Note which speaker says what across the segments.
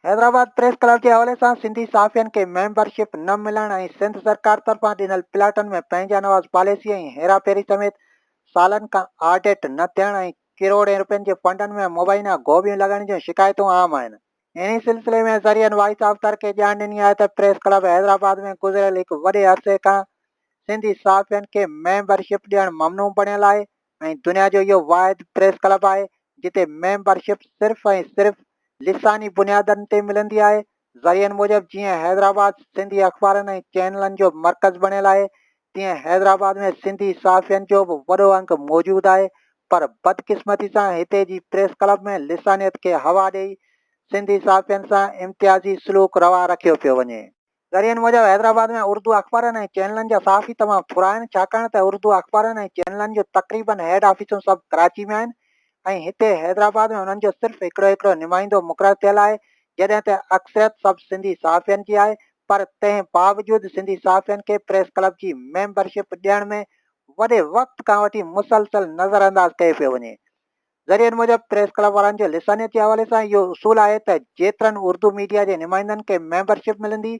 Speaker 1: Hyderabad press club جي حوالي سان سنڌي صحافين کي ميمبر شپ نه ملڻ ۽ سنڌ سرڪار طرفان ڏنل پلاٽن ۾ پنهنجا نواز پاليسي ۽ هيرا ڦيري سميت سالن کان آڊٽ نه ٿيڻ ۽ ڪروڙين روپين جي فنڊن ۾ مبينا گوڀيون لڳڻ جون شڪايتون عام آهن. انهي سلسلي ۾ ذريعن وائس آف ترڪي ڄاڻ ڏني آهي ته پريس ڪلب حيدرآباد ۾ گذريل هڪ وڏي عرصي کان سنڌي صحافين کي ميمبر شپ ڏيڻ ممنوع بڻيل آهي ۽ دنيا جو اهو واحد پريس ڪلب آهي جتي ميمبر شپ صرف ۽ صرف لساني بنيادن تي ملندي آهي ذريعن موجب جيئن حيدرآباد سنڌي اخبارن ۽ چينلن جو مرڪز بڻيل آهي تيئن حيدرآباد ۾ سنڌي صحافين جو به وڏو انگ موجود آهي پر بدقسمتي سان هتي جي پريس ڪلب ۾ لسانيت کي هوا ڏئي سنڌي صحافين سان امتيازي سلوڪ روا رکيو پيو وڃي. ذريعن موجب حيدرآباد ۾ اردو اخبارن ۽ چينلن جا صحافي تمام ٿورا آهن ڇاڪاڻ ته اردو اخبارن ۽ چينلن جون تقريبن هيڊ آفيسون سڀ ڪراچي ۾ آهن ۽ هتي حيدرآباد ۾ انهن جو صرف هڪڙو هڪڙو نمائندو مقرر ٿيل آهي، جڏهن ته اڪثريت سڀ سنڌي صحافين جي آهي، پر تنهن باوجود سنڌي صحافين کي پريس ڪلب جي ميمبرشپ ڏيڻ ۾ وڏي وقت کان وٺي مسلسل نظرانداز ڪيو پيو وڃي. ذريعن موجب پريس ڪلب وارن جو لسانيت جي حوالي سان اهو اصول آهي ته جيترن اردو ميڊيا جي نمائندن کي ميمبرشپ ملندي،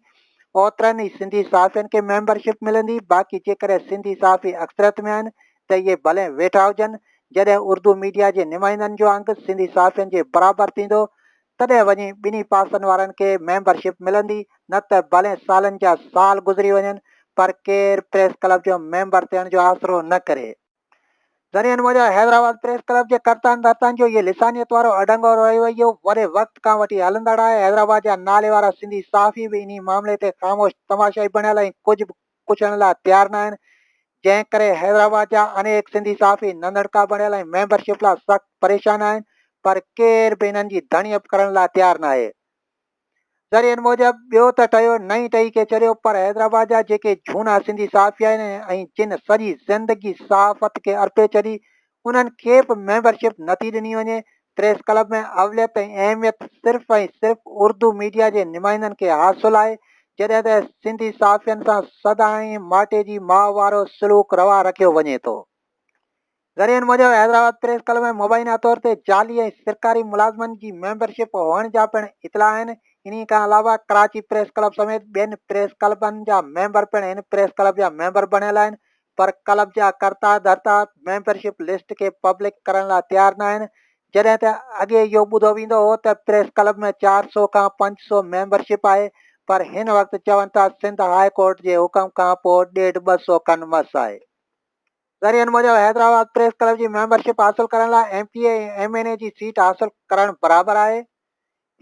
Speaker 1: اوترن ئي سنڌي صحافين کي ميمبرشپ ملندي، باقي جيڪڏهن سنڌي صحافي اڪثريت ۾ آهن ته اهي ڀلين ويٺا هجن، جڏهن اردو ميڊيا جي نمائندن جو انگ سنڌي صحافين جي برابر ٿيندو، تڏهن وڃي ٻنهي پاسن وارن کي ميمبر شپ ملندي، نه ته ڀلين سالن جا سال گذري وڃن پر ڪير پريس ڪلب جو ميمبر ٿيڻ جو آسرو نه ڪري. ذريعن موجب حيدرآباد پريس ڪلب جي ڪرتان ڌرتان جو اهي لسانيت وارو اڍنگو رويو وڏي وقت کان وٺي هلندڙ آهي، حيدرآباد جا ناليوارا سنڌي صحافي به انهي معاملي تي خاموش تماشائي بڻيل ۽ ڪجهه پڇڻ لاء تيار ناهن، جنهن ڪري حيدرآباد جا انيڪ سنڌي صحافي ننڍڙڪا بڻيل ۽ ميمبر شپ لاء سخت پريشان آهن پر ڪير به انهن جي ڌڻي به ڪرڻ لاء تيار ناهي. ذريعن موجب ٻيو ته ٺهيو نئين ٺهي ڪي چريو پر حيدرآباد جا جيڪي جھونا سنڌي صحافي آهن ۽ جن سڄي زندگي صحافت کي ارپي ڇڏي انهن کي به ميمبرشپ نٿي ڏني وڃي، پريس ڪلب ۾ اوليت ۽ اهميت صرف ۽ صرف اردو ميڊيا جي نمائندن کي حاصل آهي، جڏهن ته سنڌي صحافين سان سدائين ماٽي جي ماء وارو سلوڪ روا رکيو وڃي ٿو. ذريعن موجب حيدرآباد پريس ڪلب ۾ مبينا طور تي جعلي ۽ سرڪاري ملازمن جي ميمبرشپ هئڻ جا پڻ اطلاع آهن، انهي کان علاوه ڪراچي پريس ڪلب سميت ٻين پريس ڪلبن جا ميمبر پڻ هن پريس ڪلب جا ميمبر بڻيل آهن، پر ڪلب جا ڪرتا ڌرتا ميمبر شپ لسٽ کي پبلڪ ڪرڻ لاء تيار ناهن جڏهن ته اڳي اهو ٻڌو ويندو هو ته پريس ڪلب ۾ چار سؤ کان پنج سؤ ميمبر شپ آهي پر هن وقت چون ٿا سنڌ هاء ڪورٽ جي حڪم کان پوء ڏيڍ ٻه سؤ کن مس آهي. ذريعن موجب حيدرآباد پريس ڪلب جي ميمبر شپ حاصل ڪرڻ لاء M P A ۽ M N A جي سيٽ حاصل ڪرڻ برابر آهي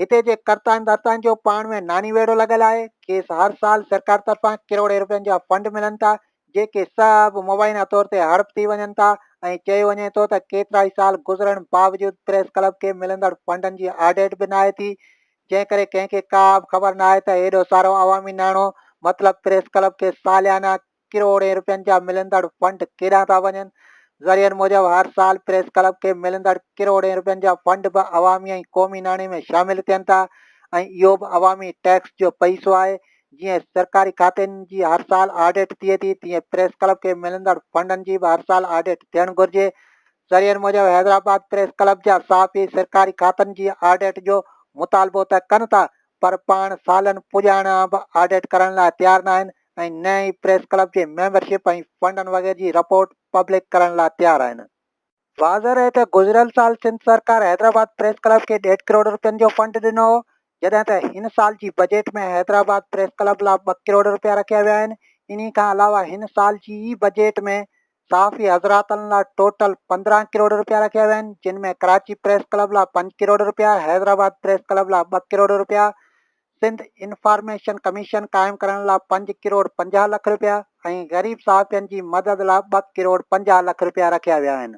Speaker 1: هتي جي ڪرتائن ڌرتائن جو پاڻ ۾ ناني ويڙهو لڳل آهي، کيس هر سال سرڪار طرفان ڪروڙين رپين جا فنڊ ملن ٿا، جيڪي سڀ مبينا طور تي هڙپ ٿي وڃن ٿا ۽ چيو وڃي ٿو ته ڪيترائي سال گذرڻ باوجود پريس ڪلب کي ملندڙ فنڊن جي آڊٽ به ناهي ٿي، جنهن ڪري ڪنهن کي ڪابه خبر ناهي ته ايڏو سارو عوامي ناڻو مطلب پريس ڪلب کي ساليانه ڪروڙين روپين جا ملندڙ فنڊ ڪيڏانهن ٿا وڃن؟ ذريعن موجب هر سال پريس ڪلب کي ملندڙ ڪروڙين روپين جا فنڊ به عوامي ۽ قومي ناڻي ۾ شامل ٿين ٿا ۽ اهو به عوامي ٽيڪس جو پئسو آهي. جيئن سرڪاري کاتن جي هر سال آڊٽ ٿئي ٿي تيئن پريس ڪلب کي ملندڙ فنڊن جي به هر سال آڊٽ ٿيڻ گهرجي. ذريعن موجب حيدرآباد پريس ڪلب جا صحافي سرڪاري کاتن جي آڊٽ جو مطالبو ته ڪن ٿا پر پاڻ سالن پڄاڻان به آڊٽ ڪرڻ لاء تيار ناهن ۽ نه ئي پريس ڪلب جي ميمبرشپ ۽ فنڊن وغيره جي رپورٽ پبلڪ ڪرڻ لا تيار آهن. واضح رهي ته گذريل سال سنڌ سرڪار حيدرآباد پريس ڪلب کي ڏيڍ ڪروڙ رپين جو فنڊ ڏنو هو جڏهن ته هن سال جي بجيٽ ۾ حيدرآباد پريس ڪلب لا ٻه ڪروڙ رپيا رکيا ويا آهن انهي کان علاوه هن سال جي ئي بجيٽ ۾ صحافي حضراتن لا ٽوٽل پندرهن ڪروڙ روپيا رکيا ويا آهن جن ۾ ڪراچي پريس ڪلب لا پنج ڪروڙ روپيا، حيدرآباد پريس ڪلب لا ٻه ڪروڙ روپيا، سنڌ انفارميشن ڪميشن قائم ڪرڻ لا پنج ڪروڙ پنجاهه لک روپيا ۽ غريب صحافين جي مدد لا ٻه ڪروڙ پنجاهه لک روپيا رکيا ويا آهن.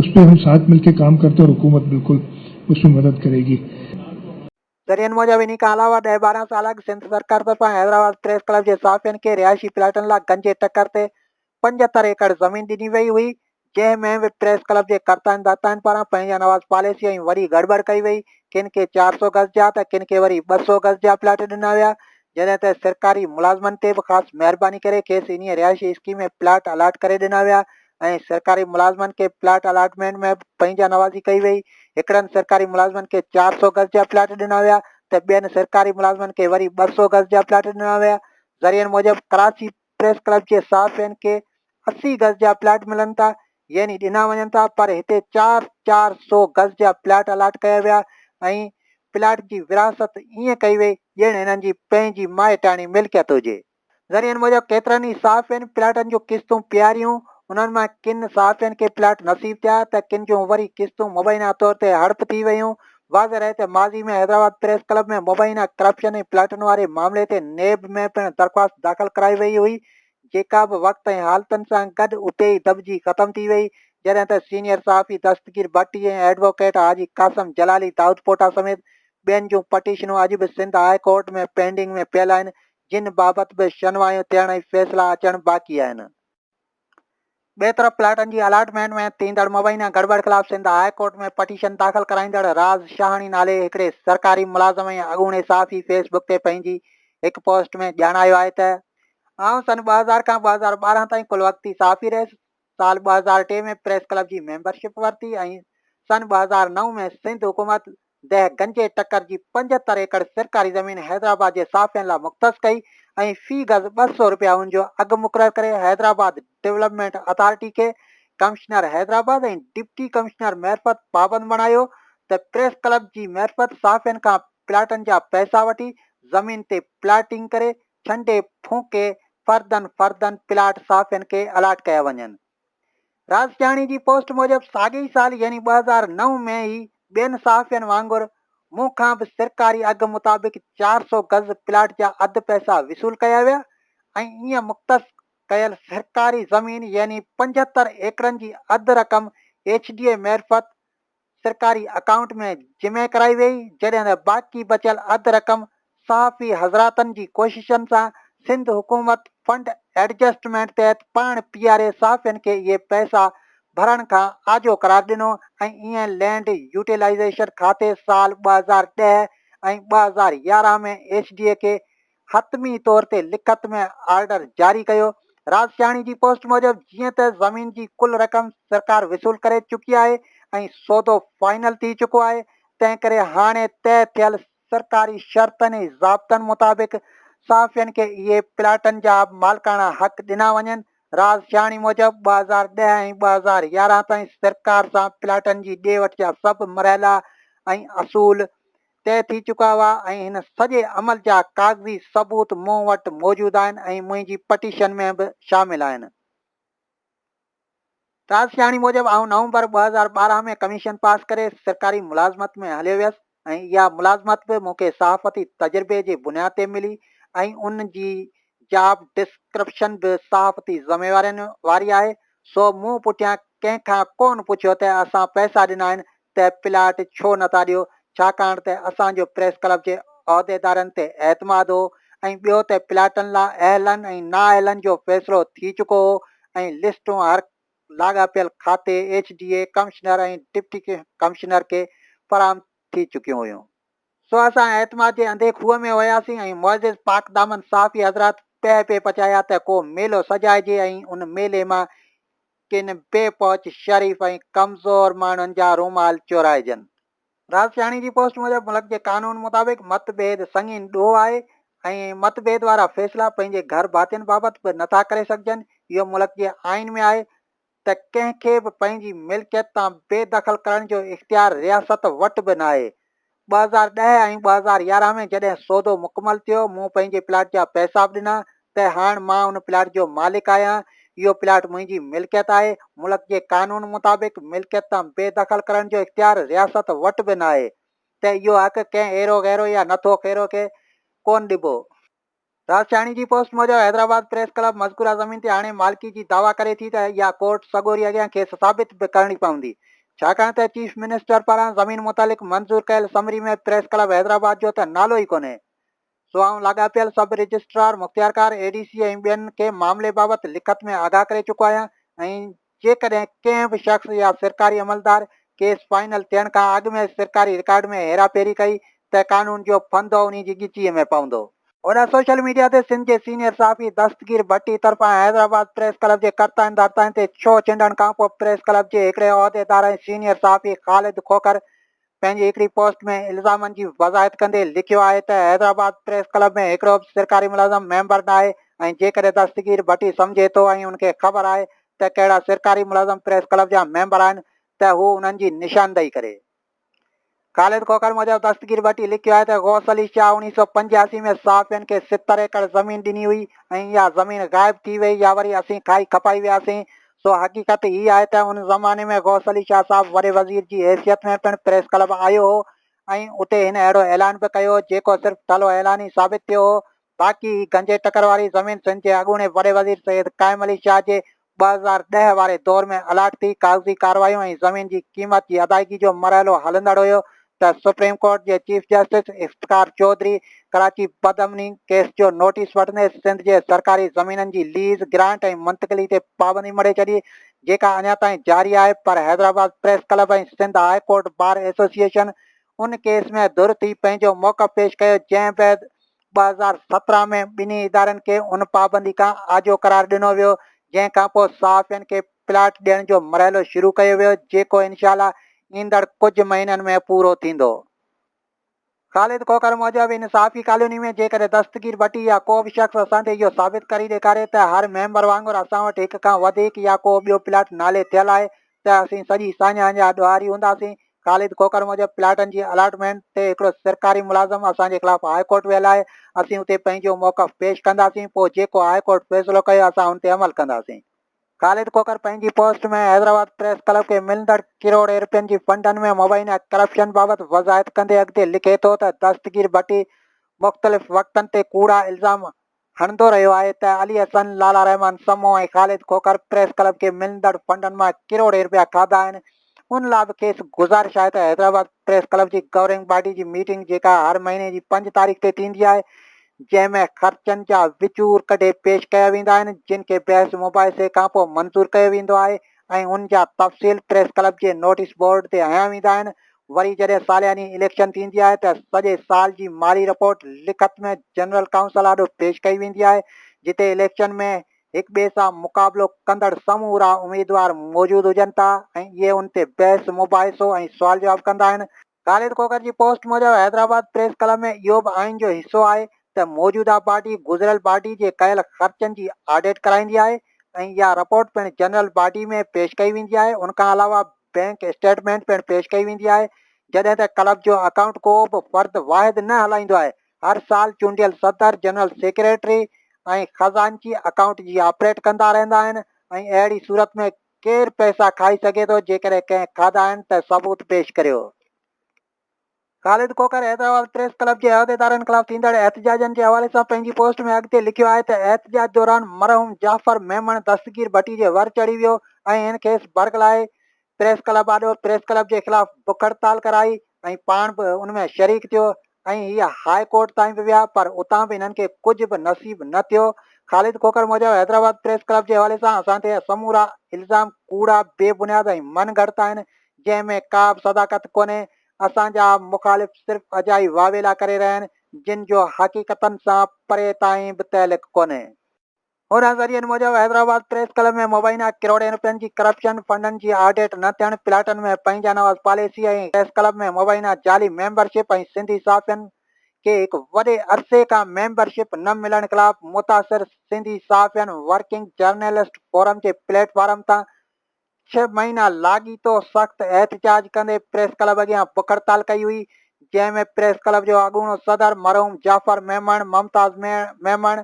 Speaker 2: اس پہ ھم ساتھ مل ڪي ڪام ڪرتي ھين اور حڪومت بلڪل اس مي مدد ڪري گي. ذريعن
Speaker 1: موجب انھي کان علاوه ڏهه ٻارهن سال اڳ سنڌ سرڪار طرفان حيدرآباد پريس ڪلب جي صحافين کي رهائشي پلاٽن لا گنجي ٽڪر تي پنجهتر ايڪڙ زمين ڏني وئي هئي جنهن ۾ به پريس ڪلب جي ڪرتائن داتائن پاران پنهنجا نواز پاليسي ۽ وڏي گڙٻڙ ڪئي وئي ڪن کي چار سو گز جا ته ڪن کي وري ٻه سو گز جا پلاٽ ڏنا ويا جڏهن ته سرڪاري ملازمن تي به خاص مهرباني ڪري کيس انهي رهائشي اسڪيم ۾ پلاٽ الاٽ ڪري ڏنا ويا ۽ سرڪاري ملازمن کي پلاٽ الاٽمينٽ ۾ به پنهنجا نوازي ڪئي وئي. هڪڙن سرڪاري ملازمن کي چار سؤ گز جا پلاٽ ڏنا ويا ته ٻين سرڪاري ملازمن کي وري ٻه سؤ گز جا پلاٽ ڏنا ويا. ذريعن موجب ڪراچي پريس ڪلب جي صحافين کي اسي گز جا پلاٽ ملن ٿا يعني ڏنا وڃن ٿا پر هتي چار چار سؤ گز جا پلاٽ الاٽ ڪيا ويا ۽ پلاٽ جي ورهاست ائين ڪئي وئي ڄڻ انهن جي پنهنجي مائٽاڻي ملڪيت هجي. ذريعن موجب ڪيترن ئي صحافين پلاٽن جون قسطون پياريون، انهن مان ڪن صحافين کي پلاٽ نصيب ٿيا ته ڪن جون وري قسطون مبينا طور تي هڙپ ٿي ويون، واضح رهي ته ماضي ۾ حيدرآباد پريس ڪلب ۾ مبينا ڪرپشن ۽ پلاٽن واري معاملي تي نيب ۾ پڻ درخواست داخل ڪرائي وئي هئي جيڪا به وقت ۽ حالتن سان گڏ اتي ئي دٻجي ختم ٿي وئي جڏهن ته سينيئر صحافي دستگير ڀٽي ۽ ايڊووڪيٽ حاجي قاسم جلالي دائودپوٽا سميت ٻين جون پٽيشنون اڄ به سنڌ هاء ڪورٽ ۾ پينڊنگ ۾ پيل آهن جن بابت به شنوايون ٿيڻ ۽ فيصلا اچڻ باقي آهن. ٻئي طرف پلاٽن جي الاٽمينٽ ۾ ٿيندڙ مبينا گڙٻڙ خلاف سنڌ هاء ڪورٽ ۾ پٽيشن داخل ڪرائيندڙ راز شاهاڻي نالي هڪڙي سرڪاري ملازم ۽ اڳوڻي صحافي فيس بڪ تي پنهنجي هڪ پوسٽ ۾ ڄاڻايو آهي ته آئون سن ٻه هزار کان ٻه هزار ٻارهن تائين ڪل وقتي صحافي رهيس سال ٻه هزار ٽي ۾ پريس ڪلب جي ميمبرشپ ورتي ۽ سن ٻه هزار نو ۾ سنڌ حڪومت دهه گنجي ٽڪر جي پنجهتر ايڪڙ سرڪاري زمين حيدرآباد جي صحافين لاء مختص ڪئي ۽ في گز ٻه سؤ رپيا ان جو اگهه مقرر ڪري حيدرآباد ڊولپمينٽ اٿارٽي کي ڪمشنر حيدرآباد ۽ ڊپٽي ڪمشنر معرفت پابند بڻايو ته پريس ڪلب جي معرفت صحافين کان پلاٽن جا پئسا وٺي زمين تي پلاٽنگ ڪري ڇنڊي ڦونڪي فردن فردن پلاٽ صحافين کي الاٽ ڪيا وڃن. راسياڻي جي پوسٽ موجب ساڳي ئي سال يعني ٻه هزار نو ۾ ئي ٻين صحافين وانگر مون کان به سرڪاري اگهه مطابق چار سؤ گز پلاٽ جا اڌ پئسا وصول ڪيا ويا ۽ ائين مختص ڪيل سرڪاري زمين يعني پنجهتر ايڪڙن جي اڌ رقم ايڇ ڊي اي معرفت سرڪاري اڪائونٽ ۾ جمع ڪرائي ويئي جڏهن ته باقي بچيل اڌ رقم صحافي حضراتن جي ڪوششن سان سنڌ حڪومت فنڊ ايڊجسٽمينٽ تحت پاڻ پي آر اي صحافين کي اهي پئسا ڀرڻ کان آجو قرار ڏنو ۽ ايئن لينڊ يوٽيلائيزيشن کاتي سال ٻه هزار ڏهه ۽ ٻه هزار يارهن ۾ ايس ڊي اي کي حتمي طور تي لکت ۾ آرڊر جاري ڪيو. رازشاهڻي جي پوسٽ موجب جيئن ته زمين جي ڪل رقم سرڪار وصول ڪري چڪي آهي ۽ سودو فائنل ٿي چڪو آهي تنهن ڪري هاڻي طئي ٿيل سرڪاري شرطن ۽ ضابطن مطابق صحافين کي اهي پلاٽن جا مالڪاڻا حق ڏنا وڃن. رازشاهڻي موجب ٻه هزار ڏهه ۽ ٻه هزار يارهن تائين سرڪار سان پلاٽن جي ڏي وٺ جا سڀ مرحلا ۽ اصول طئي ٿي چڪا هئا ۽ هن سڄي عمل جا ڪاغذي ثبوت مون وٽ موجود آهن ۽ منهنجي پٽيشن ۾ به شامل آهن. رازشاهڻي موجب آئون نومبر ٻه هزار ٻارهن ۾ ڪميشن پاس ڪري سرڪاري ملازمت ۾ هليو ويس ۽ اها ملازمت به مون کي صحافتي تجربي جي بنياد تي ملي ۽ ان جي جاب ڊسڪرپشن به صحافتي ذميوارين واري آهي، سو مون پٺيان ڪنهن کان ڪونه پڇيو ته اسان پئسا ڏنا آهن ته پلاٽ ڇو نٿا ڏيو، ڇاڪاڻ ته اسان جو پريس ڪلب جي عهديدارن تي اعتماد هو ۽ ٻيو ته پلاٽن لا اهلن ۽ نااهلن جو فيصلو ٿي چڪو هو ۽ لسٽون هر لاڳاپيل کاتي، H D A, commissioner ۽ deputy commissioner کي فراهم ٿي چڪيون هيون. سو اسان اعتماد جي انڌي کوهه ۾ وياسين ۽ معزز پاڪدامن صحافي حضرات پهه پي پچايا ته ڪو ميلو سجائجي ۽ ان ميلي مان ڪن بي پهچ شريف ۽ ڪمزور ماڻهن جا رومال چورائجن. رازشاهڻي جي پوسٽ موجب ملڪ جي قانون مطابق مت ڀيد سنگين ڏوهه آهي ۽ مت ڀيد وارا فيصلا پنهنجي گهر ڀاتين بابت به نٿا ڪري سگهجن، اهو ملڪ جي آئين ۾ آهي ته ڪنهن کي به پنهنجي ملڪيت تان بي دخل ڪرڻ جو اختيار رياست وٽ به ناهي. ٻه هزار ڏهه ۽ ٻه هزار يارهن ۾ جڏهن سودو مڪمل ٿيو، مون پنهنجي پلاٽ جا پئسا به ڏنا ته هاڻ مان ان پلاٽ جو مالڪ آهيان، اهو پلاٽ منهنجي ملڪيت آهي، ملڪ جي قانون مطابق ملڪيت تان بي دخل ڪرڻ جو اختيار رياست وٽ به ناهي ته اهو حق ڪنهن ايرو غيرو يا نٿو خيرو کي ڪونه ڏبو. راستياڻي جي پوسٽ موجب حيدرآباد پريس ڪلب مذڪوره زمين تي هاڻي مالڪي جي دعويٰ ڪري ٿي ته اها ڪورٽ سڳوري اڳيان کيس ثابت به ڪرڻي پوندي ڇاڪاڻ ته چيف منسٽر پاران زمين متعلق منظور ڪيل سمري ۾ پريس ڪلب حيدرآباد جو ته نالو ئي ڪونهي سو آئون لاڳاپيل سب رجسٽرار مختيارڪار اي ڊي سي ۽ ٻين کي معاملي بابت لکت ۾ آگاهه ڪري چڪو آهيان ۽ جيڪڏهن ڪنهن به شخص يا سرڪاري عملدار ڪيس فائنل ٿيڻ کان اڳ ۾ سرڪاري رڪارڊ ۾ هيرا ڦيري ڪئي ته قانون جو ڦندو انهي جي ڳچيء ۾ پوندو. هن سوشل ميڊيا تي سنڌ جي سينيئر صحافي دستگير ڀٽي طرفان حيدرآباد پريس ڪلب جي ڪرتاين ڌرتاين تي ڇهو چنڊڻ کانپوء پريس ڪلب جي هڪڙي عهديدار ۽ سينيئر صحافي خالد کوکر پنهنجي هڪڙي پوسٽ ۾ الزامن جي وضاحت ڪندي لکيو آهي ته حيدرآباد پريس ڪلب ۾ هڪڙو به سرڪاري ملازم ميمبر ناهي ۽ جيڪڏهن دستگير ڀٽي سمجهي ٿو ۽ ان کي خبر آهي ته ڪهڙا سرڪاري ملازم پريس ڪلب جا ميمبر آهن ته هو انهن جي نشاندهي ڪري. خالد کوکر موجب دستگير ڀٽي لکيو آهي ته غوث علي شاهه اوڻيهه سؤ پنجياسي ۾ صحافين کي ستر ايڪڙ زمين ڏني هئي ۽ اها زمين غائب ٿي وئي يا وري اسين کائي کپائي وياسين سو حقيقت هي آهي ته ان زماني ۾ غوث علي شاهه صاحب وڏي وزير جي حيثيت ۾ پڻ پريس ڪلب آيو هو ۽ اتي هن اهڙو اعلان به ڪيو هو جيڪو صرف ٺلهو اعلان ئي ثابت ٿيو هو باقي هي گنجي ٽڪر واري زمين سنڌ جي اڳوڻي وڏي وزير سيد قائم علي شاهه جي ٻه هزار ڏهه واري دور ۾ الاٽ ٿي ڪاغذي ڪاروايون ۽ زمين جي قيمت جي ادائگي جو مرحلو هلندڙ هيو ته سپريم ڪورٽ جي چيف جسٽس افتخار چوڌري ڪراچي بدامني ڪيس جو نوٽيس وٺندي سنڌ جي سرڪاري زمينن جي ليز، گرانٽ ۽ منتقلي تي پابندي مڙهي ڇڏي، جيڪا اڃا تائين جاري آهي پر Hyderabad press club ۽ Sindh high court bar association ان ڪيس ۾ ڌر ٿي پنهنجو موقف پيش ڪيو جنهن بعد ٻه هزار سترهن ۾ ٻنهي ادارن کي ان پابندي کان آجو قرار ڏنو ويو جنهن کانپوء صحافين کي پلاٽ ڏيڻ جو مرحلو شروع ڪيو ويو جيڪو انشاء الله ايندڙ ڪجهه مهينن ۾ پورو ٿيندو. خالد کوکر موجب ان صحافي ڪالوني ۾ جيڪڏهن دستگير ڀٽي يا ڪو به شخص اسان تي اهو ثابت ڪري ڏيکاري ته هر ميمبر وانگر اسان وٽ هڪ کان وڌيڪ يا ڪو ٻيو پلاٽ نالي ٿيل آهي ته اسين سڄي ساڃاهه جا ڏوهاري هونداسين. خالد کوکر موجب پلاٽن جي الاٽمينٽ تي هڪڙو سرڪاري ملازم اسان جي خلاف هاء ڪورٽ ويل آهي اسين اتي پنهنجو موقف پيش ڪنداسين پوء جيڪو هاء ڪورٽ فيصلو ڪيو اسان ان تي عمل ڪنداسين. خالد کوکر پنهنجي پوسٽ ۾ حيدرآباد پريس ڪلب کي ملندڙ ڪروڙين روپين جي فنڊن ۾ مبينا ڪرپشن بابت وضاحت ڪندي اڳتي لکي ٿو ته دستگير ڀٽي مختلف وقتن تي ڪوڙا الزام هڻندو رهيو آهي ته علي حسن، لالا رحمان سمون ۽ خالد کوکر پريس ڪلب کي ملندڙ فنڊن مان ڪروڙين روپيا کاڌا آهن، ان لا به کيس گذارش آهي ته حيدرآباد پريس ڪلب جي گورننگ باڊي جي ميٽنگ جيڪا هر مهيني جي پنج تاريخ تي ٿيندي آهي جنهن ۾ خرچن جا وچور ڪڍي پيش ڪيا ويندا آهن جن کي بحث مباحثي کانپوء منظور ڪيو ويندو آهي ۽ ان جا تفصيل پريس ڪلب جي نوٽيس بورڊ تي هنيا ويندا آهن وري جڏهن سالياني اليڪشن ٿيندي آهي ته سڄي سال جي مالي رپورٽ لکت ۾ جنرل ڪائونسل آڏو پيش ڪئي ويندي آهي جتي اليڪشن ۾ هڪ ٻئي سان مقابلو ڪندڙ سمورا اميدوار موجود هجن ٿا ۽ اهي ان تي بحث مباحثو ۽ سوال جواب ڪندا آهن، خالد کوکر جي پوسٽ موجب حيدرآباد پريس ڪلب ۾ اهو به آئين جو حصو آهي ته موجوده باڊي گذريل باڊي جي ڪيل خرچن جي آڊٽ ڪرائيندي آهي ۽ اها رپورٽ پڻ جنرل باڊي ۾ پيش ڪئي ويندي آهي ان کان علاوه بئنڪ اسٽيٽمينٽ پڻ پيش ڪئي ويندي آهي جڏهن ته ڪلب جو اڪائونٽ ڪو به فرد واحد نه هلائيندو آهي هر سال چونڊيل صدر، جنرل سيڪريٽري ۽ خزانچي اڪائونٽ جي آپريٽ ڪندا رهندا آهن ۽ اهڙي صورت ۾ ڪير پئسا کائي سگهي ٿو جيڪڏهن ڪنهن کاڌا آهن ته ثبوت پيش ڪريو. خالد کوکر حيدرآباد پريس ڪلب جي عهديدارن خلاف ٿيندڙ احتجاجن جي حوالي سان پنهنجي پوسٽ ۾ اڳتي لکيو آهي ته احتجاج دوران مرحوم جعفر ميمڻ دستگير ڀٽي جي ور چڙهي ويو ۽ هن کيس برغلائي پريس ڪلب آڏو پريس ڪلب جي خلاف بک هڙتال ڪرائي ۽ پاڻ به ان ۾ شريڪ ٿيو ۽ هي هاء ڪورٽ تائين به ويا پر اتان به هنن کي ڪجهه به نصيب نه ٿيو. خالد کوکر موجب حيدرآباد پريس ڪلب جي حوالي سان اسان تي سمورا الزام ڪوڙا، بي بنياد ۽ من گهڙت آهن جنهن ۾ ڪا به صداقت ڪونهي، اسان جا مخالف صرف اجائي واويلا ڪري رهيا آهن جن جو حقيقتن سان پري تائين به تعلق ڪونهي. انهن ذريعن موجب حيدرآباد پريس ڪلب ۾ مبينا ڪروڙين رپين جي ڪرپشن، فنڊن جي آڊٽ نه ٿيڻ، پلاٽن ۾ پنهنجا نواز پاليسي ۽ پريس ڪلب ۾ مبينا جعلي ميمبر شپ ۽ سنڌي صحافين کي هڪ وڏي عرصي کان ميمبر شپ نه ملڻ خلاف متاثر سنڌي صحافين ورڪنگ جرنلسٽ فورم جي پليٽ فارم تان ڇهه مهينا لاڳيتو سخت احتجاج ڪندي پريس ڪلب اڳيان بک هڙتال ڪئي هئي، جنهن ۾ پريس ڪلب جو اڳوڻو صدر مرحوم جعفر ميمڻ، ممتاز ميمڻ،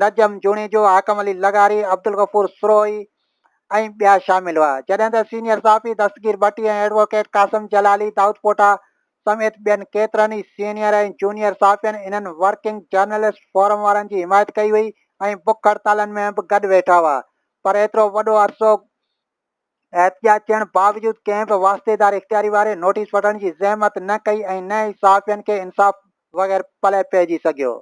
Speaker 1: نجم جوڻيجو، حاڪم علي لغاري، عبدالغفور سروهي ۽ ٻيا شامل هئا، جڏهن ته سينيئر صحافي دستگير ڀٽي ۽ ايڊووڪيٽ قاسم جلالي، دائودپوٽا، سميت ٻين ڪيترن ئي سينيئر ۽ جونيئر صحافين انهن ورڪنگ جرنلسٽ فورم وارن جي حمايت ڪئي هئي ۽ بک هڙتالن ۾ به گڏ ويٺا هئا، پر ايترو وڏو عرصو احتجاج ٿيڻ باوجود ڪنهن به واسطيدار اختياري واري نوٽيس وٺڻ جي زحمت نه ڪئي ۽ نه ئي صحافين کي انصاف وغير پلئه پئجي سگهيو.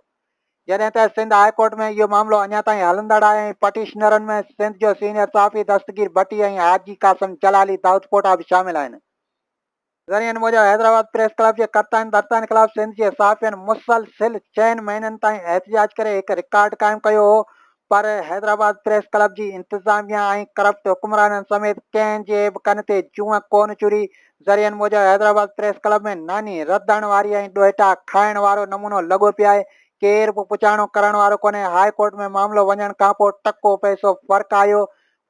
Speaker 1: جڏهن ته سنڌ هاء ڪورٽ ۾ اهو معاملو اڃا تائين هلندڙ آهي ۽ پٽيشنرن ۾ سنڌ جو سينيئر صحافي دستگير ڀٽي ۽ حاجي قاسم جلالي دائودپوٽا به شامل آهن. ذريعن موجب حيدرآباد پريس ڪلب جي ڪرتائن ڀرتائن خلاف سنڌ جي صحافين مسلسل چئن مهينن تائين احتجاج ڪري هڪ رڪارڊ قائم ڪيو هو پر حيدرآباد پريس ڪلب جي انتظاميا ۽ ڪرپٽ حڪمرانن سميت ڪنهن جي به ڪن تي جونء ڪونه چري ذريعن موجب حيدرآباد پريس ڪلب ۾ ناني رڌڻ واري ۽ ڏوهيٽا کائڻ وارو نمونو لڳو پيو آهي ڪير به پچاڻو ڪرڻ وارو ڪونهي هاء ڪورٽ ۾ معاملو وڃڻ کانپوء ٽڪو پئسو فرق آيو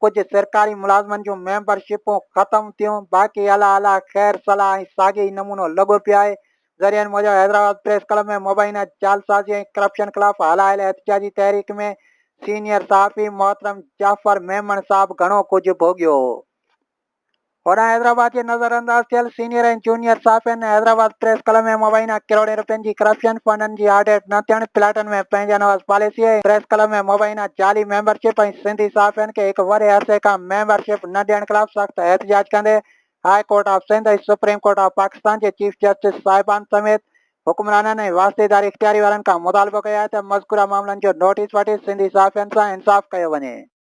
Speaker 1: ڪجهه سرڪاري ملازمن جون ميمبر شپون ختم ٿيون باقي الا الا خير صلاح ۽ ساڳي ئي نمونو لڳو پيو آهي ذريعن موجب حيدرآباد پريس ڪلب ۾ مبينا جعلسازي ۽ ڪرپشن خلاف هلايل احتجاجي تحريڪ ۾ سينيئر صحافي محترم جعفر ميمڻ صاحب گهڻو ڪجهه ڀوڳيو هو هوڏانهن حيدرآباد جي نظر انداز ٿيل سينيئر ۽ جونيئر صحافين ۽ حيدرآباد پريس ڪلب ۾ مبينا ڪروڙين رپين جي ڪرپشن، فنڊن جي آڊٽ نه ٿيڻ، پلاٽن ۾ پنهنجي نواز پاليسي ۽ پريس ڪلب ۾ مبينا جعلي ميمبر شپ ۽ سنڌي صحافين کي هڪ وڏي عرصي کان ميمبر شپ نه ڏيڻ خلاف سخت احتجاج ڪندي high court of Sindh ۽ supreme court of Pakistan جي چيف جسٽس صاحبان سميت حڪمرانن ۽ واسطيداري اختياري وارن کان مطالبو ڪيو آهي ته مذڪوره معاملن جو نوٽيس وٺي سنڌي صحافين سان انصاف ڪيو وڃي.